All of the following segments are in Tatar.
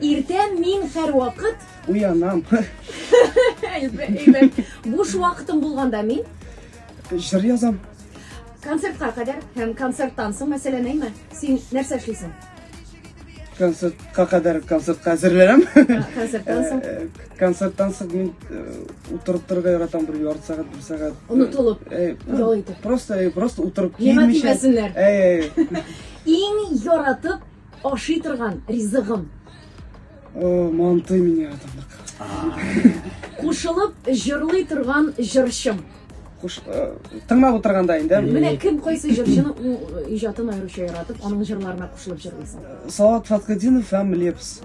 Иртә мин һәрвакыт уянам. Әйбәт. Буш вакытым булганда мин җыр язам. Концертка кадәр һәм концерттан соң, мәсәлән, әйме, син нәрсә эшлисең? концертка кадәр концертка әзерләнәм. Концерттан соң? Э, э, концерттан соң мин э, утырып торырга яратам бер ярты сәгать, бер сәгать. Онытылып, ял итеп. Просто, просто утырып килмичә. Нимә дисеннәр? Иң яратып Ашый торган ризыгым. Манты меня атырлык. Кушылып җырлый торган җырчым. Куш, тыңлап утырганда инде. Менә кем кайсы җырчының иҗатын аеруча яратып, аның җырларына кушылып җырлыйсың? Салат Фатхетдинов һәм Лепс.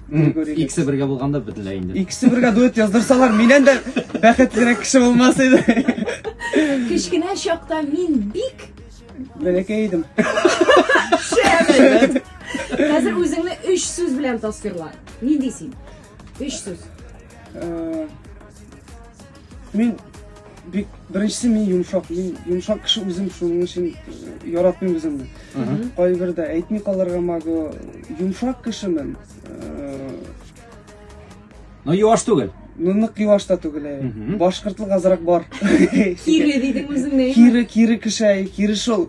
Иксе бергә булганда бетлә инде. Иксе бергә дуэт яздырсалар, миннән дә бәхетлерәк кеше булмас иде. Кечкенә чакта мин бик бәләкәй идем. Шәбәт. Хәзер үзеңне 3 сүз белән тасвирла. Ни дисең? 3 сүз. Э, Мин бик беренчесе мин йомшак. Мин йомшак кеше үзем шуның өчен яратмыйм үземне. Кайбердә әйтми калырга могу. Йомшак кешемен. Но юаш түгел. Ну нык юаш та түгел. Башкортлык азрак бар. Кире дидең үзеңне. Кире, кире кеше, кире шул.